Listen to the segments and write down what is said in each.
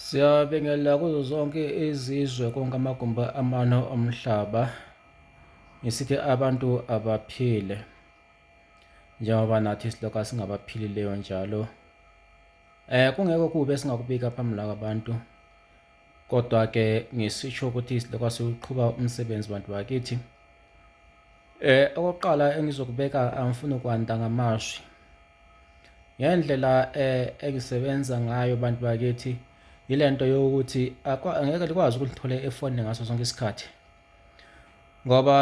Siyabingelela kuzo zonke izizwe konke amagumbi amane omhlaba ngisithi abantu abaphile njengoba nathi siloka singabaphilileyo njalo eh kungekho kubi esingakubika phambi la kwabantu kodwa ke ngisisho ukuthi siloka siqhuba umsebenzi bantu bakithi eh okokuqala engizokubeka angifuni kwanda ngamashwi Ngendlela engisebenza ngayo bantu bakithi yile nto yokuthi angeke likwazi ukulithola efonini ngaso sonke isikhathi ngoba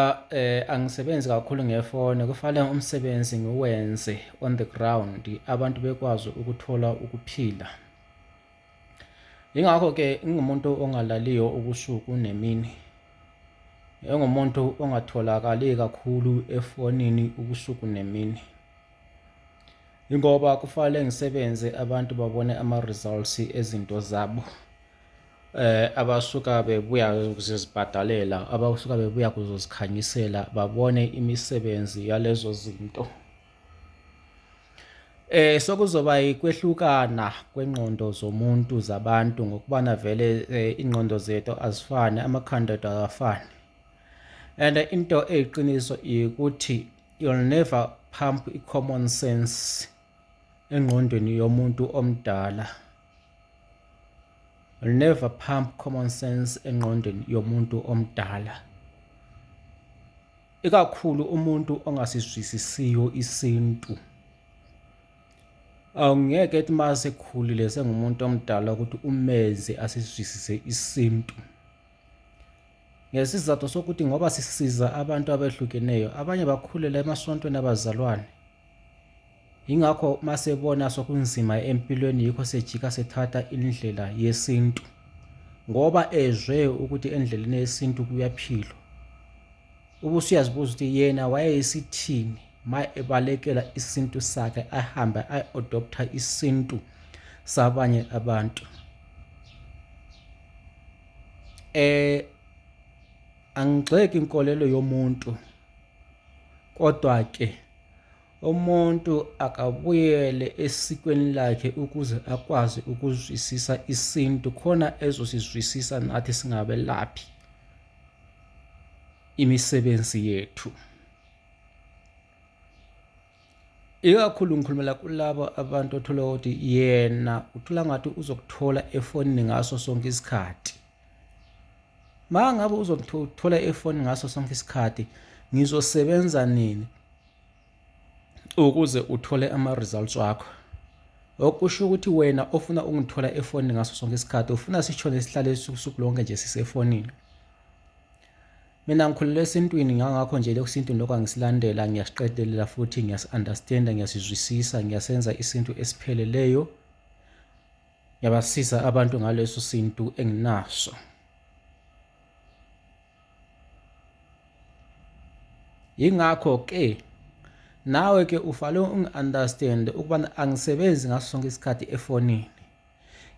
angisebenzi kakhulu ngefoni kufanele umsebenzi ngiwenze on the ground abantu bekwazi ukuthola ukuphila. Yingakho-ke ngingumuntu ongalaliyo ubusuku nemini engumuntu ongatholakali kakhulu efonini ubusuku nemini. Ingoba kufanele ngisebenze abantu babone ama-results ezinto zabo eh abasuka bebuya ukuzibhadalela abasuka bebuya kuzozikhanyisela babone imisebenzi yalezo zinto eh sokuzoba ikwehlukana kwengqondo zomuntu zabantu ngokubana vele eh, ingqondo zethu azifani amakhanda ethu akafani and into eyiqiniso ukuthi you'll never pump i-common sense engqondweni yomuntu omdala you'll never pump common sense engqondweni yomuntu omdala ikakhulu umuntu ongasizwisisiyo isintu awungeke ethi uma sekhulile sengumuntu omdala ukuthi umenze asizwisise isintu Ngesizathu sokuthi ngoba sisiza abantu abehlukeneyo, abanye bakhulela emasontweni abazalwane. Yingakho masebona sokunzima empilweni yikho sejika sethatha indlela yesintu. Ngoba ezwe ukuthi endleleni yesintu kuyaphilwa. Ubusuyazibuza ukuthi yena wayeyisithini ma ebalekela isintu sakhe ahambe ayi-adoptha isintu sabanye abantu. Eh angigxeki inkolelo yomuntu kodwa ke umuntu akabuyele esikweni lakhe ukuze akwazi ukuzwisisa isintu khona ezosizwisisa nathi singabelaphi imisebenzi yethu. ikakhulu ngikhulumela kulabo abantu othola ukuthi yena uthola ngathi uzokuthola efonini ngaso sonke isikhathi ma ngabe uzokuthola efonini ngaso sonke isikhathi ngizosebenza nini ukuze uthole ama-results wakho okusho ukuthi wena ofuna ukungithola efonini ngaso sonke isikhathi ufuna sishone sihlale usuku lonke nje sisefonini Mina ngikhulele esintwini ngangakho nje lokhu sintu lokho angisilandela ngiyasiqedelela futhi ngiyasi-understanda ngiyasizwisisa ngiyasenza isintu esipheleleyo ngiyabasiza abantu ngaleso sintu enginaso yingakho ke nawe ke ufale ungi-understand ukubana angisebenzi ngaso sonke isikhathi efonini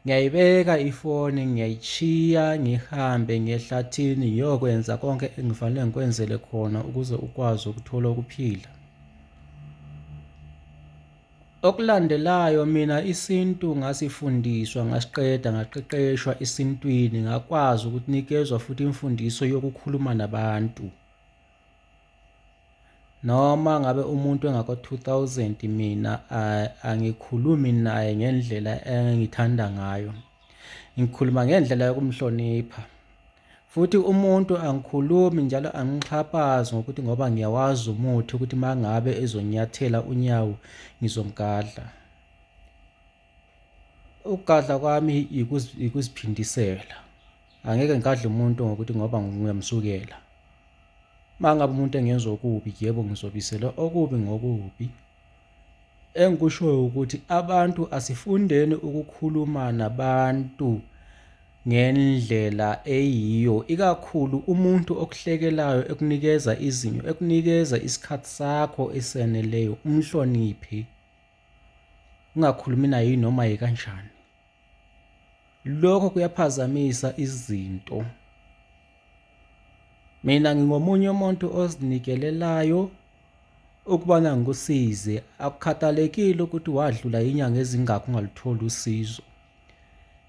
Ngiyayibeka ifoni ngiyayishiya ngihambe ngehlathini ngiyokwenza konke engifanele ngikwenzele khona ukuze ukwazi ukuthola ukuphila. Okulandelayo mina isintu ngasifundiswa ngasiqeda ngaqeqeshwa esintwini ngakwazi ukunikezwa futhi imfundiso yokukhuluma nabantu. noma ngabe umuntu engako-2000 mina angikhulumi naye ngendlela engithanda ngayo ngikhuluma ngendlela yokumhlonipha futhi umuntu angikhulumi njalo angixhaphazi ngokuthi ngoba ngiyawazi umuthi ukuthi uma ngabe ezonyathela unyawo ngizomgadla Ukugadla kwami yikuziphindisela. Angeke ngigadle umuntu ngokuthi ngoba ngiyamsukela. Uma ngabe umuntu engenza okubi, yebo ngizobisela okubi ngokubi. Engikushoyo ukuthi abantu asifundeni ukukhuluma nabantu ngendlela eyiyo, ikakhulu umuntu okuhlekelayo ekunikeza izinyo, ekunikeza isikhathi sakho eseneleyo, umhloniphe. ungakhulumi naye yinoma yekanjani lokho kuyaphazamisa izinto mina ngingomunye umuntu ozinikelelayo ukubana ngikusize akukhathalekile ukuthi wadlula inyanga ezingakho ungalutholi usizo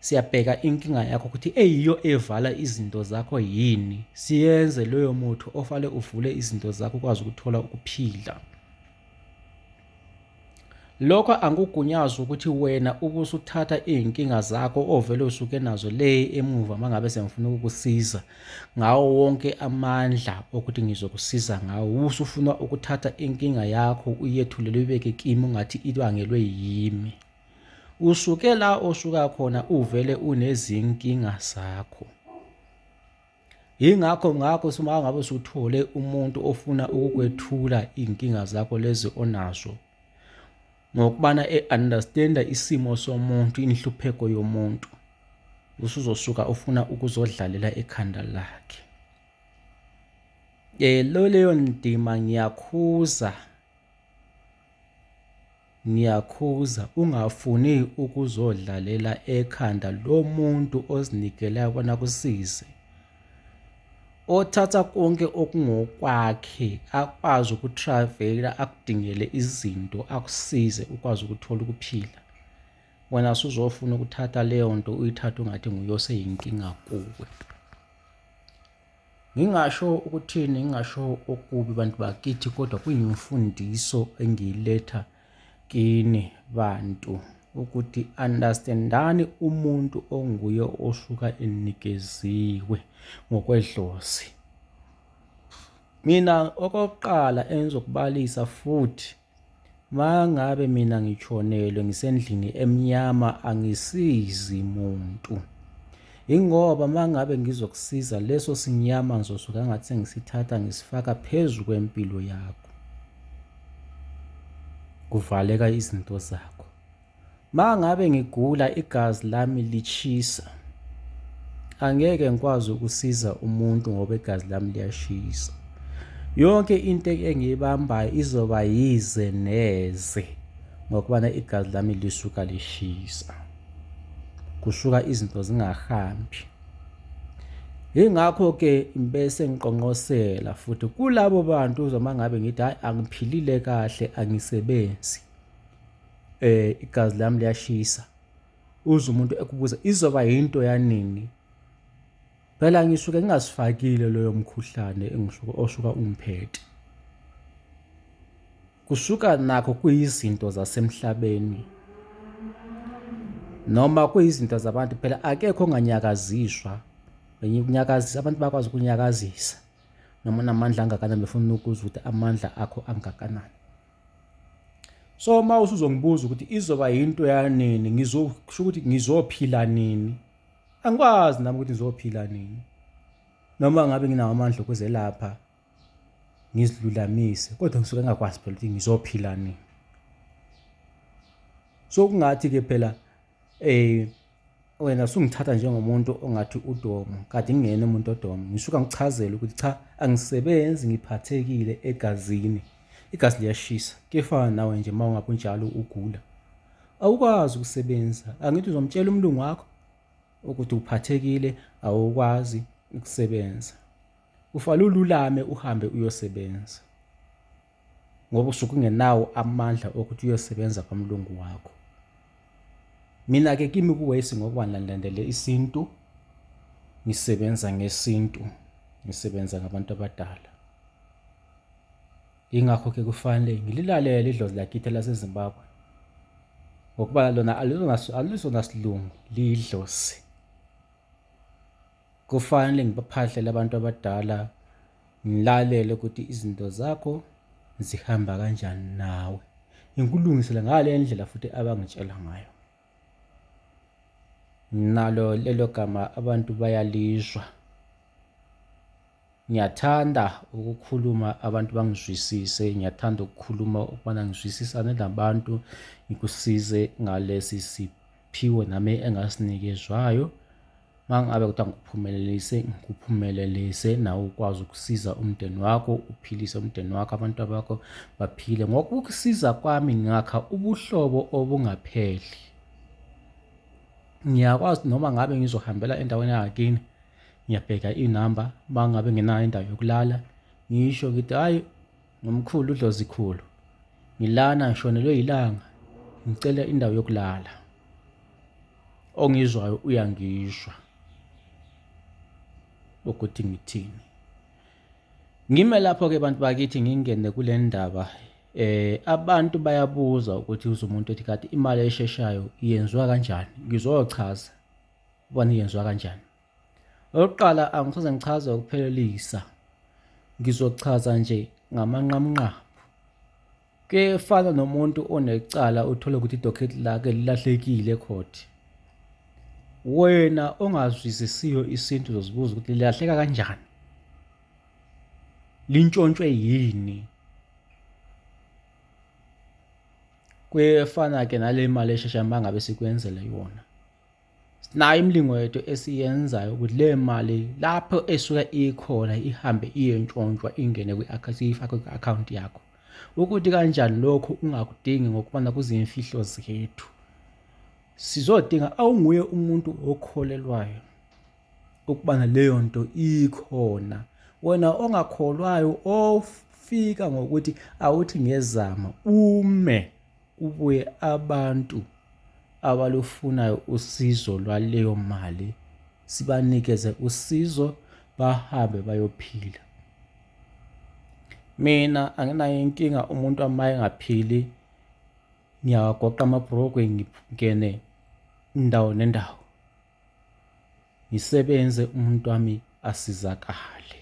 siyabheka inkinga yakho ukuthi eyiyo evala izinto zakho yini siyenze loyo muthi ofale uvule izinto zakho ukwazi ukuthola ukuphila Lokho angikugunyazi ukuthi wena ubusuthatha izinkinga zakho ovele usuke nazo le emuva mangabe sengifuna ukukusiza ngawo wonke amandla okuthi ngizokusiza ngawo usufuna ukuthatha inkinga yakho uyethulele uyibeke kimi ungathi ibangelwe yimi usuke la osuka khona uvele unezinkinga zakho Yingakho ngakho uma ngabe usuthole umuntu ofuna ukukwethula iy'nkinga zakho lezi onazo ngokubana e-understanda isimo somuntu inhlupheko yomuntu usuzosuka ufuna ukuzodlalela ekhanda lakhe um leyo ndima ngiyakhuza Ngiyakhuza ungafuni ukuzodlalela ekhanda lomuntu ozinikelayo bona kusize. Othatha konke okungokwakhe akwazi ukutravela akudingele izinto akusize ukwazi ukuthola ukuphila. Wena suzofuna ukuthatha leyo nto uyithathe ungathi nguye oseyinkinga kuwe. Ngingasho ukuthini, ngingasho okubi bantu bakithi, kodwa kuyimfundiso engiyiletha kini bantu ukuthi understandani umuntu onguye osuka enikeziwe ngokwedlozi. Mina okokuqala engizokubalisa futhi Mangabe mina ngitshonelwe ngisendlini emnyama angisizi muntu. Ingoba mangabe ngizokusiza leso sinyama ngizosuka ngathi sengisithatha ngisifaka phezu kwempilo yakho. Kuvaleka izinto zakho. Mangabe ngigula igazi lami lishisa angeke ngikwazi ukusiza umuntu ngoba igazi lami liyashisa yonke into engiyibambayo izoba yize neze ngokubana igazi lami lisuka lishisa kusuka izinto zingahambi ingakho-ke bese ngiqonqosela futhi kulabo bantu uzoma ngabe ngithi hhayi angiphilile kahle angisebenzi eh igazi lami liyashisa uze umuntu ekubuza izoba yinto yanini phela ngisuke ngingasifakile loyo mkhuhlane engisuke osuka umphethe kusuka nakho kuyizinto zasemhlabeni noma kuyizinto zabantu phela akekho onganyakaziswa ukunyakazisa abantu bakwazi ukunyakazisa noma unamandla angakanani befuna ukuzwa ukuthi amandla akho angakanani so uma usuzongibuza ukuthi izoba yinto yanini ngizosho ukuthi ngizophila nini angikwazi nami ukuthi ngizophila nini noma ngabe nginawo amandla okuzelapha ngizilulamise kodwa ngisuke ngingakwazi phela ukuthi ngizophila nini so kungathi-ke phela um wena usungithatha njengomuntu ongathi udomo kade ngingena umuntu odomo ngisuka ngichazele ukuthi cha angisebenzi ngiphathekile egazini igazi liyashisa kefana nawe nje uma ungabe unjalo ugula awukwazi ukusebenza angithi uzomtshela umlungu wakho ukuthi uphathekile awukwazi ukusebenza ufale ululame uhambe uyosebenza ngoba usuke ungenawo amandla okuthi uyosebenza kwamlungu wakho mina-ke kimi kuwesi ngokuba ngilandele isintu ngisebenza ngesintu ngisebenza ngabantu abadala yingakho-ke kufanele ngililalele idlozi lakithi lasezimbabwe ngokuba lona alizona silungu liyidlozi kufanele ngibaphahlele abantu abadala Ngilalele ukuthi izinto zakho zihamba kanjani nawe. Ngikulungisele ngale ndlela futhi abangitshela ngayo. Nalo lelo gama abantu bayalizwa. Ngiyathanda ukukhuluma abantu bangizwisise, ngiyathanda ukukhuluma ukubana ngizwisisane nabantu, ngikusize ngalesi simo. Phiwo nami engasinikezwayo mangabe kuthiwa ngikuphumelelise ngikuphumelelise nawe ukwazi ukusiza umndeni wakho uphilise umndeni wakho abantu bakho baphile ngokukusiza kwami ngakha ubuhlobo obungapheli ngiyakwazi noma ngabe ngizohambela endaweni yakini ngiyabheka inamba mangabe ngenayo indawo yokulala ngisho ngithi hayi Nomkhulu uDlozikhulu, ngilana ngishonelwe yilanga ngicela indawo yokulala. Ongizwayo uyangizwa ukuthi ngithini. Ngime lapho-ke bantu bakithi ngingene kule ndaba eh abantu bayabuza ukuthi uze umuntu ethi kade imali esheshayo yenziwa kanjani ngizochaza ubani yenziwa kanjani Okokuqala angisoze ngichaze ukuphelelisa, ngizochaza nje ngamanqamunqamu. Kuyefana nomuntu onecala uthole ukuthi idocket lakhe lilahlekile ecourt. Wena ongazwisisiyo isintu uzozibuza ukuthi lilahleka kanjani? Lintshontshwe yini? Kuyefana-ke nale mali eshesha uma ngabe sikwenzele yona. Sinayo imilingo yethu esiyenzayo ukuthi le mali lapho esuke ikhona ihambe iyentshontshwa ingene kwi-akhawunti ifakwe kwi-akhawunti yakho ukuthi kanjani lokho ungakudingi ngokubona kuzimfihlo zethu sizodinga awunguye umuntu okholelwayo ukubana leyo nto ikhona wena ongakholwayo ofika ngokuthi awuthi ngezama ume Kubuye abantu abalufunayo usizo lwaleyo mali sibanikeze usizo bahambe bayophila. Mina anginayo inkinga umuntu uma engaphili ngiyawagoqa amabhrokwe ngingene indawo nendawo. ngisebenze umuntu wami asizakale.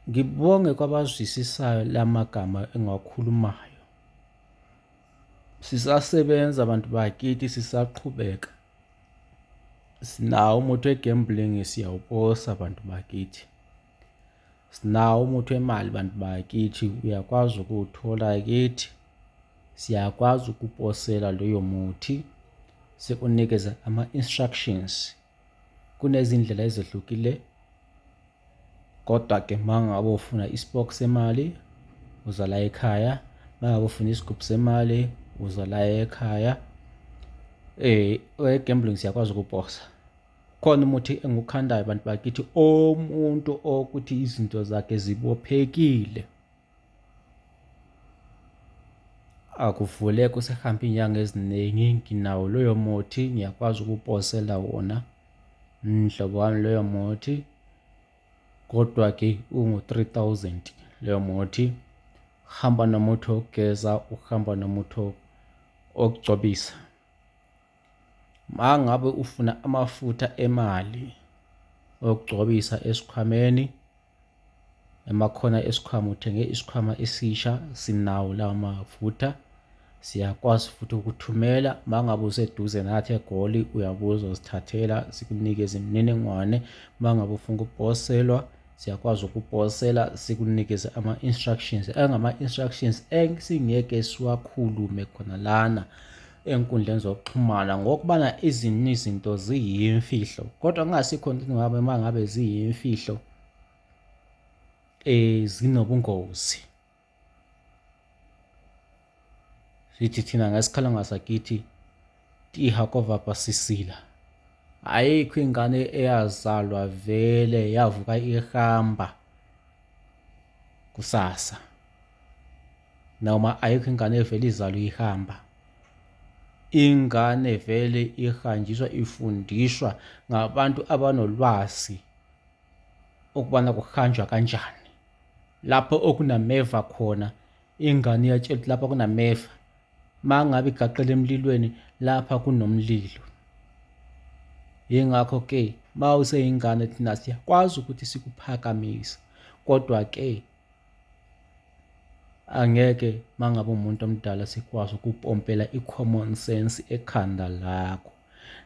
Ngibonge kwabazwisisayo lamagama engiwakhulumayo. Sisasebenza abantu bakithi sisaqhubeka. Sinawo umuthi wegambling siyawuposa abantu bakithi. Sinawo umuthi wemali bantu bakithi, uyakwazi ukuwuthola kithi. Siyakwazi ukuposela loyo muthi sikunikeze ama-instructions. Kunezindlela ezehlukile kodwa-ke uma ngabe ufuna isipoki semali uza la ekhaya, uma ngabe ufuna isigubhu semali uza la ekhaya. Owe-gambling siyakwazi ukuposa. khona umuthi engukhandayo bantu bakithi omuntu okuthi izinto zakhe zibophekile akuvuleki usehambe iy'nyanga eziningi nginawo loyo muthi ngiyakwazi ukuposela wona mhlobo wami loyo muthi kodwa-ke ungu-three thousand loyo muthi hamba nomuthi wokugeza uhamba nomuthi wokugcobisa Mangabe ufuna amafutha emali okugcobisa esikhwameni, emakhona esikhwama uthenge isikhwama esisha sinawo lawo mafutha. Siyakwazi futhi ukuthumela mangabe useduze nathi eGoli uyabuza uzithathela sikunikeze imininingwane. Mangabe ufuna ukuposelwa siyakwazi ukuposela sikunikeze ama-instructions engama-instructions esingeke siwakhulume khona lana. enkundleni zokuxhumana ngokubana izinto izinto ziyimfihlo kodwa kungasikho into ngabe uma ngabe ziyimfihlo eh zinobungozi sithi thina ngesikhala ngasakithi tiha kovapa sisila ayikho ingane eyazalwa vele yavuka ihamba kusasa noma ayikho ingane evele izalwe ihamba ingane vele ihanjiswa ifundiswa ngabantu abanolwazi ukubana kuhanjwa kanjani lapho okunameva khona ingane iyatshelwa ukuthi lapha kunameva uma ngabe igaqele emlilweni lapha kunomlilo yingakho-ke uma useyingane thina siyakwazi ukuthi sikuphakamise kodwa-ke Angeke mangabe umuntu omdala sikwazi ukupompela i-common sense ekhanda lakho.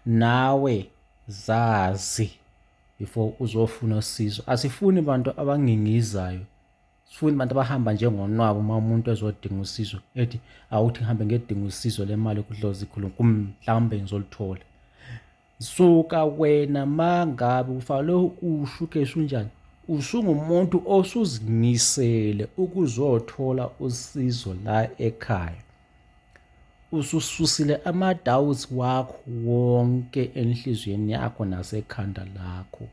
Nawe zazi before uzofuna usizo. Asifuni bantu abangingizayo. Sifuni abantu abahamba njengonwabu uma umuntu ezodinga usizo ethi awuthi ngihambe ngedinga usizo lemali kudlozi khulu mhlawumbe ngizolithola. Suka wena mangabe ufanele usho ukheshi unjani usungumuntu osuzimisele ukuzothola usizo la ekhaya usususile ama-doubts wakho wonke enhliziyweni yakho nasekhanda lakho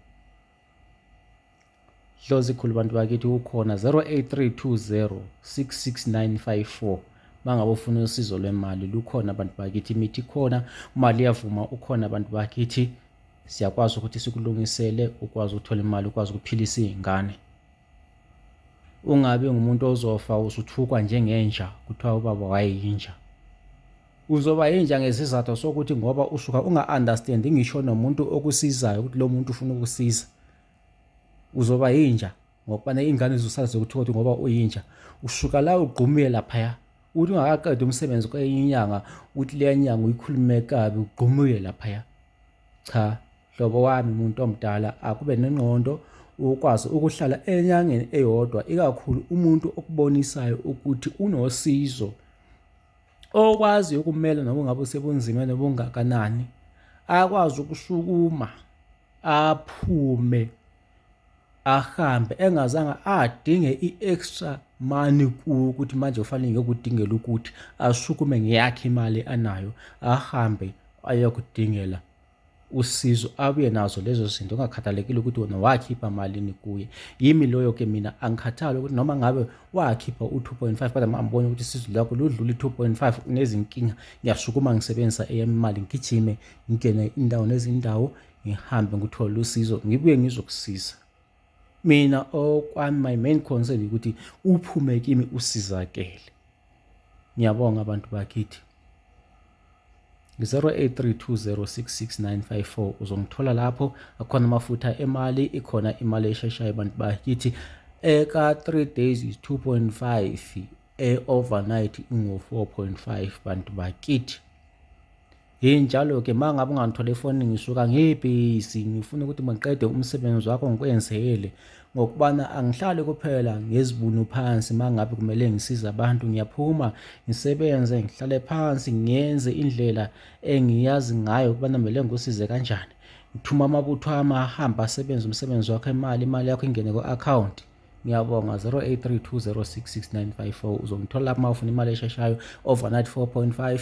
Dlozi khulu bantu bakithi ukhona 0832066954 mangabe ufuna usizo lwemali lukhona abantu bakithi imithi khona imali iyavuma ukhona abantu bakithi siyakwazi ukuthi sikulungisele ukwazi ukuthola imali ukwazi ukuphilisa iy'ngane ungabi ngumuntu ozofa usuthukwa njengenja kuthiwa ubaba wayeyinja uzoba yinja ngesizathu sokuthi ngoba usuka unga-understandi ngisho nomuntu okusizayo ukuthi lo muntu ufuna ukusiza uzoba yinja ngokubana ingane zisala zokuthokothi ngoba uyinja usuka la ugqumile laphaya uthi ungakaqeda umsebenzi kwenye inyanga uthi leya nyanga uyikhulume kabi ugqumile laphaya cha hlobo wami muntu omdala akube nengqondo ukwazi ukuhlala enyangeni eyodwa ikakhulu umuntu okubonisayo ukuthi unosizo okwazi ukumela noma ngabe usebunzimeni obungakanani akwazi ukusukuma aphume ahambe engazange adinge i-extra money kuwo ukuthi manje kufanele ngiyokudingela ukuthi asukume ngeyakhe imali anayo ahambe ayokudingela usizo abuye nazo lezo zinto ungakhathalekile ukuthi wona wakhipha malini kuye yimi loyo ke mina angikhathali ukuthi noma ngabe wakhipha u-2.5 kodwa mangibona ukuthi isizo lakho ludlula i-2.5 unezinkinga ngiyasukuma ngisebenzisa eyami imali ngigijime ngingene indawo nezindawo ngihambe ngithole usizo ngibuye ngizokusiza mina okwami my main concern ukuthi uphume kimi usizakele ngiyabonga abantu bakithi 0832066954 uzongithola lapho akhona amafutha emali ikhona imali esheshayo abantu bakithi eka 3 days is 2.5 e-overnight ingu-4.5 bantu bakithi Hey njalo ke uma ngabe ungangithole efonini ngisuka ngibhizi ngifuna ukuthi mangiqede umsebenzi wakho ngikwenzele ngokubana angihlali kuphela ngezibunu phansi uma ngabe kumele ngisize abantu ngiyaphuma ngisebenze ngihlale phansi ngiyenze indlela engiyazi ngayo ukubana kumele ngikusize kanjani ngithuma amabutho ami ahambe asebenze umsebenzi wakho imali imali yakho ingene ku-akhawunti ngiyabonga 0832066954 uzongithola lapho uma ufuna imali esheshayo overnight 4.5